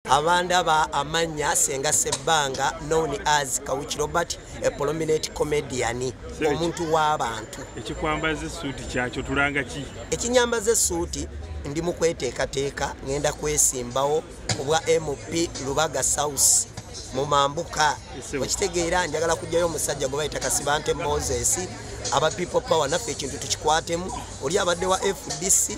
Abanda ba amanya senga sebanga known as Kawuchi Robert a prominent comedian omuntu wa bantu ekikwambaze suit kyacho tulanga ki ekinyambaze suit ndi mukweteka teka ngenda kwesimbawo obwa MP Lubaga South mu mambuka okitegeera njagala kujjayo omusajja gwe bayita kasibante moses aba people power naffe ekintu tukikwatemu oli abadde wa fdc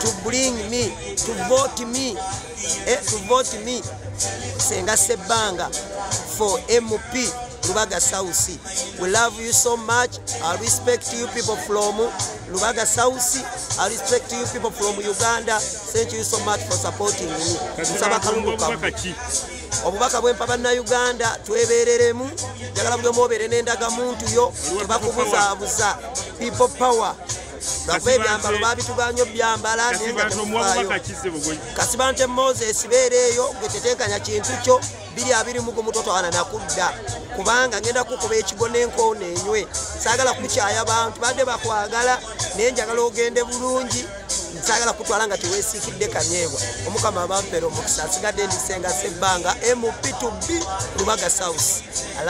to bring me to vote me eh, to vote me senga sebbanga for mp lubaga south we love you so much i respect you people from lubaga south i respect you people from uganda thank you so much for supporting me nsaba kalungu kamu obubaka bwempa bannauganda twebereremu njagala buli omu obeere n'endagamuntu yo tebakubuzabuza people power lwakuba ebyambalo babitugaanyo byambala kasibante moses beera eyo gwe tetenkanya kintu kyo biri abiri mugu mutotwana nakudda kubanga ngenda kukuba ekigo nenkoona enywe sagala kukyaya bantu badde bakwagala naye njagala ogende bulungi sagala kutwala nga tewesikidde kanyeebwa omukama abampera omukisa asigadde ndisenga sebbanga mp2b lubaga south